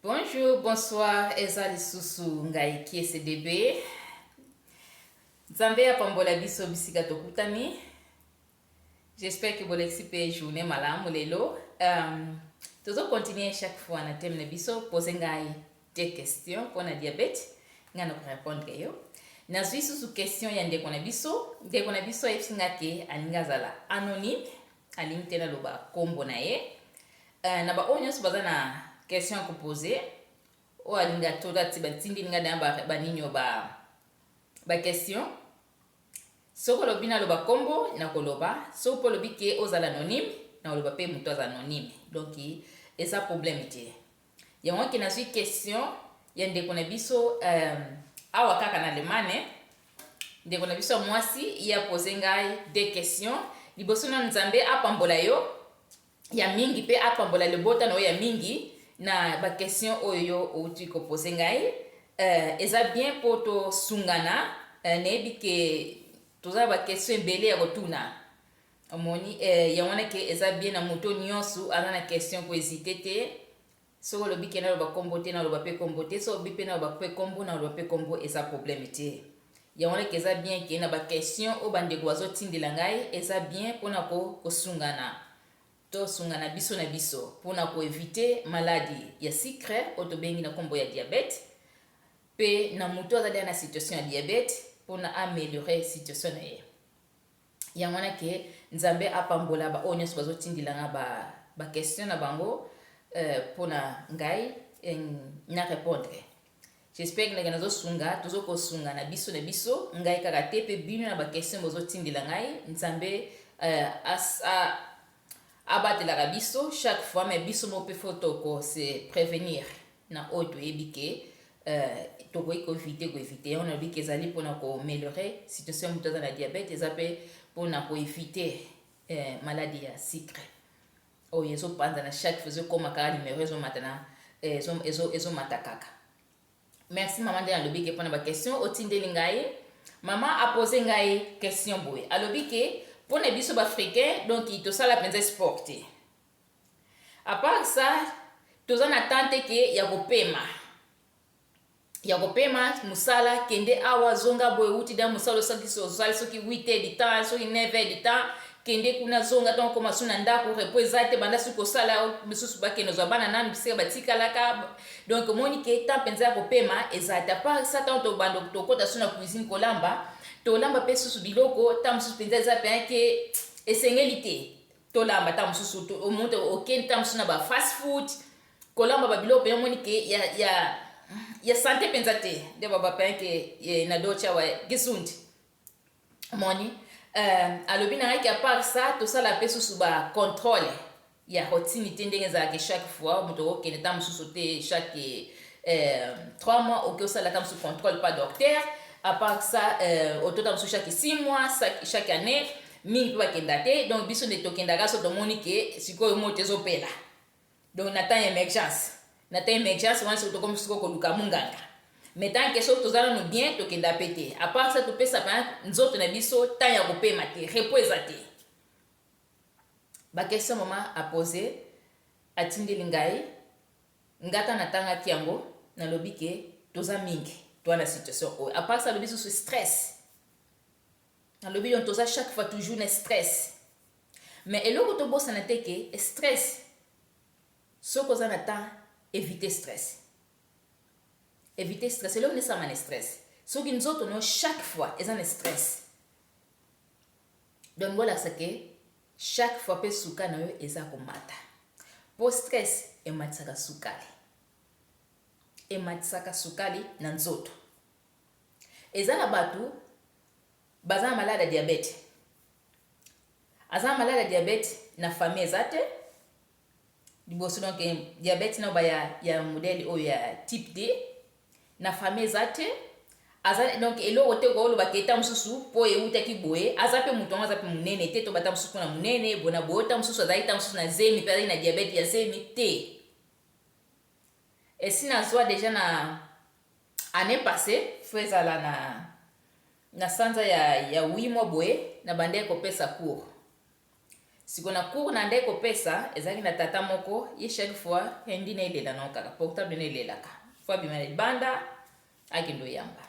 Bonjour, bonsoir, eza lisusu ngai kiese bebe. Nzambe apambola biso bisika tokutani. J'espère que bolekisi mpe journée malamu lelo. Um, tozo continuer chaque fois na thème na biso pose ngai des questions mpo na diabete ngai na korepondre yo nazwi susu question ya ndeko na biso ndeko na biso ayebisi ngai te alingi azala anonyme Alingi te naloba kombo na ye. Euh, na ba oyo nionso baza na question ya ko poser. Oyo alingi atota ti batindeli nga na ba, ba ninio ba, ba question. Soki olobi naloba kombo, nakoloba. Soki pe olobi ke ozala anonyme, nakoloba pe mutu aza anonyme. Donc eza probleme te. Yango wana ke nazwi question ya ndeko na biso euh, awa kaka na Allemagne. Ndeko na biso ya mwasi ye apose ngai de question. Liboso na Nzambe apambola yo ya mingi mpe apambola libota na yo ya mingi na ba question oyo yo outi kopose ngai. Euh, eza bien mpo tosungana. Euh, nayebi ke toza na ba question ebele ya kotuna. Omoni eh, yango wana ke eza bien na moto nyonso aza na question ko hésiter te. Soki olobi ke naloba kombo te, naloba pe kombo te. Soki olobi pe naloba pe kombo, naloba pe kombo, eza problème te. Yango wana ke eza bien ke na ba question oyo bandeko bazotindela ngai, eza bien pona ko kosungana. Tosungana biso na biso pona ko eviter maladi ya sucre oyo tobengi na kombo ya diabète. Pe na moto azali na situation ya diabète pona ameliorer situation na ye. yango wana ke nzambe apambola ba oyo nionso bazo tindila nga ba ba question na bango euh, pona ngai euh, na repondre j'espère que ndenge nazo sunga tozo kosunga na biso na biso ngai kaka te pe bino na ba question bozo tindila ngai nzambe euh, as, a, Abatelaka biso chaque fois mais biso moko pe faut toko se prevenir na oyo toyebi ke tokoki ko eviter ko eviter yango nalobi ke ezali pona ko meliorer situation ya mutu aza na diabète eza pe pona ko eviter maladi ya sucre oyo ezo panzana chaque fois ezo koma kaka numero ezo mata na ezo ezo mata kaka Merci maman nde nalobi ke pona ba question otindeli ngai maman apose ngai question boye alobi ke pona biso ba africain donc tosala mpenza sport te apart ça toza na temps te ke ya kopema ya kopema mosala kende awa zonga boye wuti da mosala osalisi ozali soki 8 heures du temps soki 9 heures du temps kende kuna zonga ntango okoma su na ndako repo eza te banda soki kosala misusu bakende ozwa bana nanu bisika batikalaka Donc omoni ke temps penza ya kopema ezala te apart ça tant tobanda tokota so na cuisine kolamba tolamba mpe susu biloko temps mosusu penza eza mpe ke esengeli te tolamba temps mosusu omonte okende temps mosusu na ba fast food kolamba babiloko mpenza omoni ke ya, ya, ya sante mpenza te nde babapaya ke eh, na docha wa gesundi moni euh, alobi na yaki apart sa tosala pe susu ba controle ya rotini te ndenge ezalaka chaque fois moto okokende ta mosusu te chaque euh, 3 mois oke osala ta mosusu controle pa docteur apart sa euh, otota mosusu chaque 6 mois chaque année mingi mpe bakenda te donc biso nde tokendaka so tomoni ke sikoyo moto ezopela Donc na temps ya emergence na temps ya emergence wana soki tokomi sikoyo koluka munganga mais tant que soki toza nanu bien tokenda pe te à part ça topesa ba nzoto na biso temps ya kopema te repos eza te ba question mama a pose atindeli ngai nga ta natangaki yango nalobi ke toza mingi toa na situation oyo à part ça alobi susu stress Nalobi donc toza chaque fois toujours na stress. Mais eloko tobosana te que stress soki oza na temps eviter stress. Eviter stress eloko nde esalama na stress. Soki nzoto no chaque fois eza na stress. Donc bolakisa que chaque fois pe suka na yo eza komata. Po stress ematisaka sukali. Ematisaka sukali na nzoto. Eza na batu baza na malade ya diabete. Aza na malade ya diabete na famille eza te. Liboso donc eh, diabete na ba ya, ya modèle oyo ya type D na famille eza te. Aza donc eloko te ko loba keta mususu po ewutaki boye. Aza pe mutu yango aza pe munene te to bata mususu na munene bona boyo ta mususu azali ta mususu na zemi pe azali na diabete ya zemi te. Esi na zua dejà na annee passe faut ezala na na sanza ya ya huit mois boye na bandaki kopesa cours siko na cours na ndaki kopesa ezalaki na tata moko ye chaque fois hindi na elela na kaka portable na elelaka faut abima na libanda akende oyamba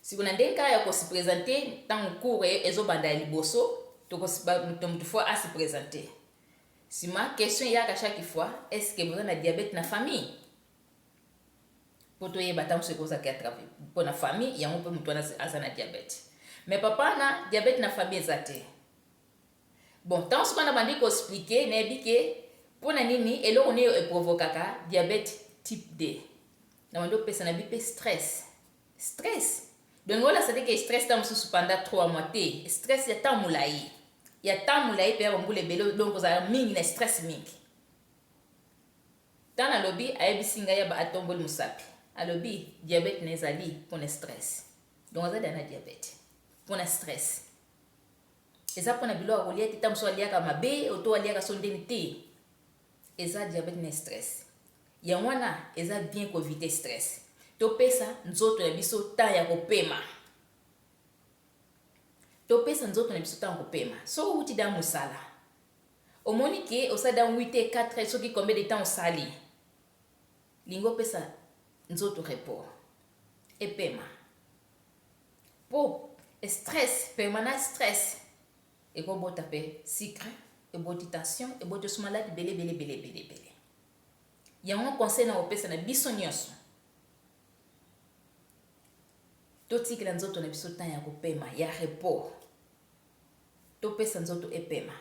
Siko na ndenge kaka ya ko se presenter tango cours ezo banda ya liboso toko moto moto faut a se presenter. Sima question eyaka chaque fois est ce que boza na diabète na famille? Po toyeba tango soki ozalaka ya travail po na famille yango pe moto wana aza na diabète. Mais papa na diabète na famille eza te. Bon tango sikoyo nabandi ko expliquer nayebi ke pona nini eloko nini e provokaka diabete type 2 nabandi kopesa na bi pe stress stress donc nao lakisa te ke stress tango mosusu panda 3 mois te stress ya tango molayi ya tango molayi mpe ya bambula ebele donc kozala mingi na stress mingi ntango nalobi ayebisi ngai yaba atomboli mosapi alobi diabete na ezali mpona stress donc aza dana diabete mpona stress Eza pona biloko akolia te tango mosusu aliaka mabe oto aliaka so ndeni te eza diabete na stress yango wana eza bien ko evite stress topesa nzoto na biso temps ya kopema topesa nzoto na biso ntango kopema soki outi da mosala omoni ke osali da 8 te 4 heures soki combien de temps osali lingi opesa nzoto report epema Po stress permanent stress eko bota pe sucre eboti tension eboti osu malade ebele ebele ebele ebele ebele yango conseil nako pesa na biso nionso to tikela nzoto na biso temps yako pema ya repos to pesa nzoto epema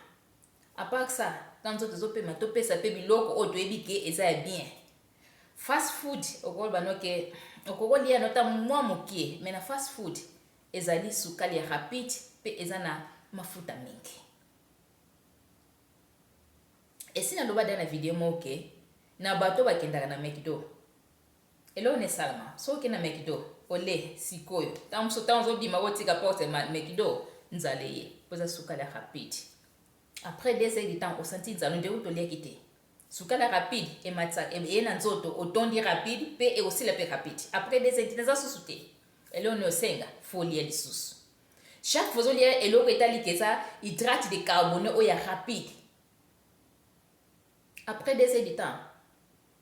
A part ça, tango nzoto ezo pema to pesa pe biloko oyo toyebi ke eza ya bien. Fast food oko loba no ke oko ko lia no ta mua mukie mais na fast food ezali sukali ya rapide pe eza na mafuta mingi. Esi na loba deja na video moko ke na bato oyo ba kendaka na McDo Eloko nini esalama soki okei na mcdo ole sikoyo tango mosusu tango ozobima bo tika porte ya mcdo nzala eye po eza sukali ya rapide après deux heures du temps osanti nzala ondire kutu oliaki te sukali ya rapide ematisa eye na nzoto otondi rapide pe ekosila pe rapide après deux heures du temps eza susu te eloko nini osenga folia lisusu chaque fois ozolia eloko etali ke eza hydrate de carbone oyo ya rapide après deux heures du temps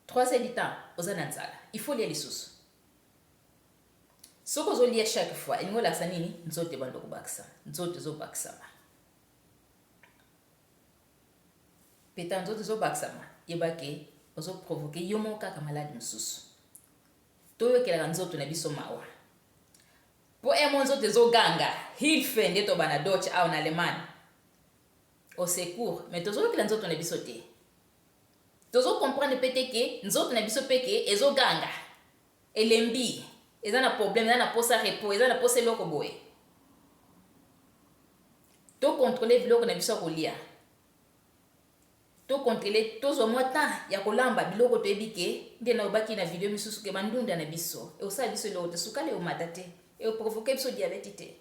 Trois heures du temps oza na nzala il faut olia lisusu soki ozo lia chaque fois elingi olakisa nini nzoto ebanda kobakisa nzoto ezo bakisama peta nzoto ezo bakisama yeba ke ozo provoke yo moko kaka malade mosusu toyokelaka nzoto na biso mawa mpo emo nzoto ezoganga hilfe nde tobana doce awa na allemagne au secours mais tozoyokela nzoto na biso te Tozo comprendre pe te que nzoto na biso pe que ezo ganga, elembi, eza na problème, eza na posa repos, eza na posa eloko boye. To controler biloko na biso ya kolia. To controler, tozwa mwa temps ya kolamba biloko toyebi que, nde na lobaki na video misusu que ba ndunda na biso ekosala biso eloko te, sukali ekomata te, eko provoquer biso diabète te.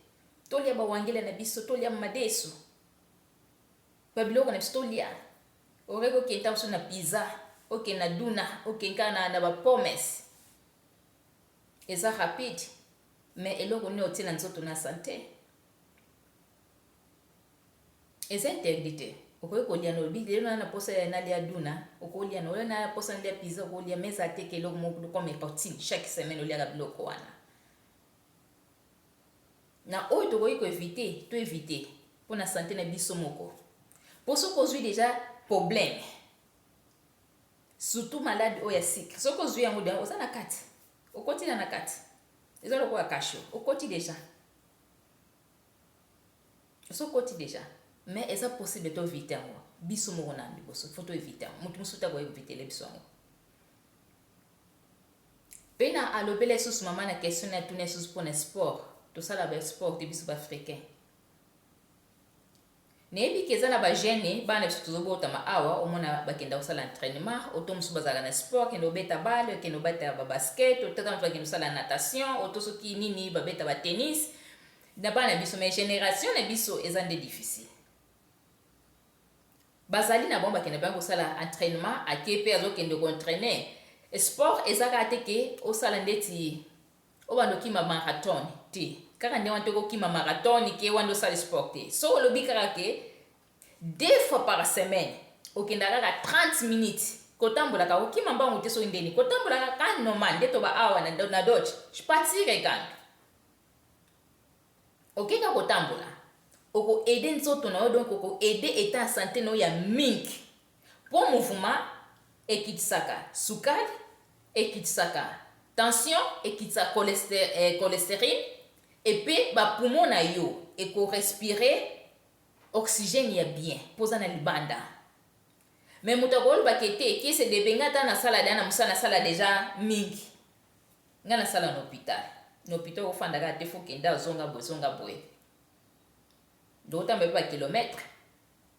Tolia ba wangila na biso, tolia madesu. Ba biloko na biso to lia aurais ko kenta biso na pizza oke na duna oke nka na na ba pommes eza rapide mais eloko nini otie na nzoto na sante eza interdit te okoki kolia na olobi lelo na na posa ya nalia duna okolia na oyo na posa nalia pizza okolia mais eza te ke eloko moko comme routine chaque semaine oliaka biloko wana na oyo tokoki ko eviter to eviter pona sante na biso moko po soki ozui deja probleme surtout malade oyo ya sucre soki ozui yango deja oza na kati okoti na na kati eza lokola kasho okoti deja soki okoti deja mais eza possible to eviter yango biso moko na liboso fo to eviter yango moto mosusu te akoki kovitele biso yango Pena a lobela lisusu maman na question naye atuna lisusu pona sport to sala ba sport te biso ba africain nayebi ke eza na ba jeune bana biso tozo botama awa omona ba kenda ko sala entraînement oto musu ba zalaka na sport kende obeta balle kende obeta ba basket oto tantu ba kende sala natation oto soki nini ba beta ba tennis na bana biso mais generation na biso eza nde difficile Bazali na bango bakenda bien kosala entrainement ake pe azo kende ko entraine sport eza kaka te ke osala ndeti obanda okima marathon te kaka nde wana te okokima marathon ke wana nde osali sport te soki olobi kaka ke deux fois par semaine okenda kaka 30 minutes kotambolaka kokima mbangu te soki ndeni kotambolaka ka normal nde toba awa na dodge je patire gang Oke kaka kotambola oko aide nzoto na yo donc oko aide etat ya sante na yo ya mingi po mouvement ekitisaka sukali, ekitisaka tension, ekitisaka cholesterine et pe ba poumons na yo eko respirer oxygène ya bien po oza na libanda mais moto akoloba ke te kiese depe nga ata nasala deja na musala nasala deja mingi. Nga na sala na hopital na hopital oko fanda kaka te faut kende awa zonga boye zonga boye ndoko tamba pe ba kilomètre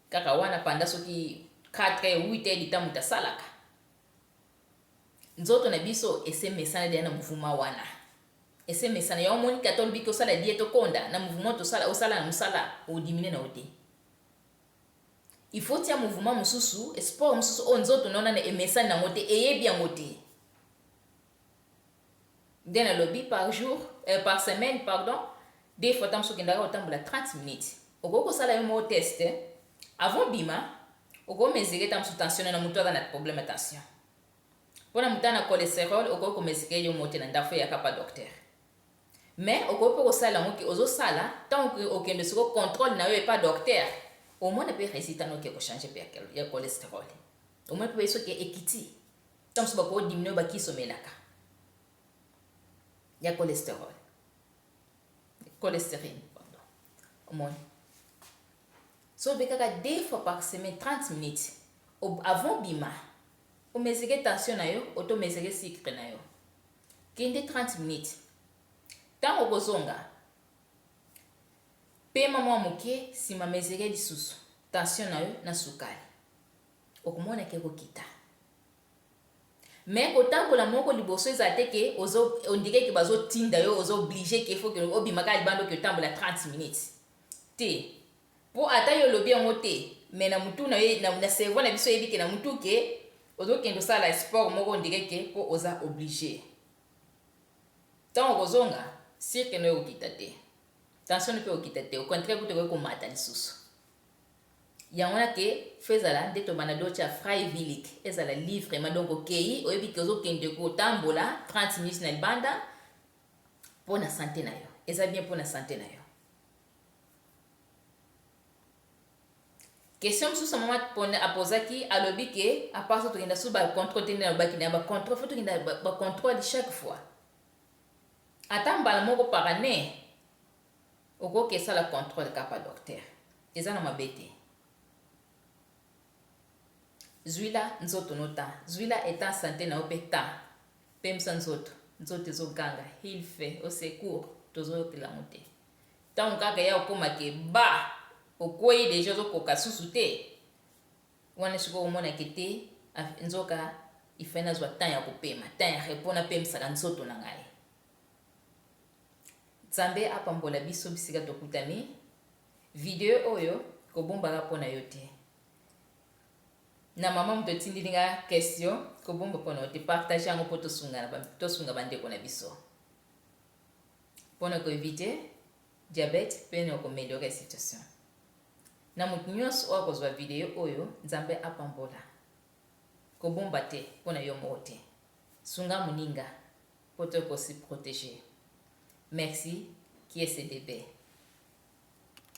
kaka wana panda soki 4 heures 8 heures du temps moto asalaka nzoto na biso ese mesana deja na muvuma wana ese mesana ya omoni kata olobi ke osala die tokonda na muvuma tosala osala na mosala odimine na yo te il faut tia muvuma mosusu sport mosusu oyo nzoto naonana emesani nango te eyebi yango te nde nalobi par jour eh, par semaine pardon des fois ntango sokendaka kotambola 30 minutes okoki kosala yo moko test avant bima okoki mesure ntango mosusu tension na moto aza na problème ya tension mpo na moto na cholesterol okoki komesure yo moko te na ndako eyaka pa docteur mais okoki mpe kosala yango ke ozosala ntango okende soko contrôle na yo epa docteur omona mpe résultat noki ekochange mpe ya cholesterol omona mpe soki ekiti Tango mosusu bako diminuer ba kisi omelaka ya cholesterol, cholesterine pardon, omoni. Soki obe kaka deux fois par semaine 30 minutes avant obima o mesure tension na yo oto mesure sucre na yo, kende 30 minutes tango okozonga pema mwa moke, sima mesure lisusu tension na yo na sukali. Okomona ke ekokita. Mais kotambola moko liboso ezala te ke ozo on dirait ke bazo tinda yo oza oblige ke il faut ke obima kaka libanda oke otambola 30 minutes te po ata yo olobi yango te mais na mutu na yo na cerveau na biso eyebi ke na mutu ke ozo kende osala sport moko on dirait ke po oza oblige tango okozonga cirque no ekokita te tension no pe ekokita te au contraire kutu ekoki komata lisusu Yango wana te faut ezala nde tobanda de otia freiwillig ezala livrement donc okeyi oyebi ke ozokende kotambola 30 minutes na libanda mpo na sante na yo eza bien mpo na sante na yo question mosusu mama apozaki alobi ke aparso tokenda susu bacontrole te nde nalobaki na ya bacontrole fo tokenda bacontrole chaque fois ata mbala moko par année Okoki esala controle kapa docteur eza na mabe te zuila nzoto no temps zuila etant sante na yo pe temps pemisa nzoto nzoto ezo ganga hil fe au secours tozo yokela ngo te ntango kaka ya okoma ke ba okwei deja ozokoka susu te wana sikoyo omonake te nzoka ifai nazwa temps ya kopema temps ya repos napemisaka nzoto na ngai Nzambe apambola biso bisika tokutani. Video oyo kobombaka pona yo te. Na mama moto otindili nga question kobomba pona yo te. Partage yango po tosungana tosunga ba ndeko na biso. Pona ko eviter diabète pe na ko meliorer situation. Na moto nyonso oyo akozwa video oyo Nzambe apambola. Kobomba te po na yo moko te. Sunga muninga po to ko se proteger. Merci kiesebebe.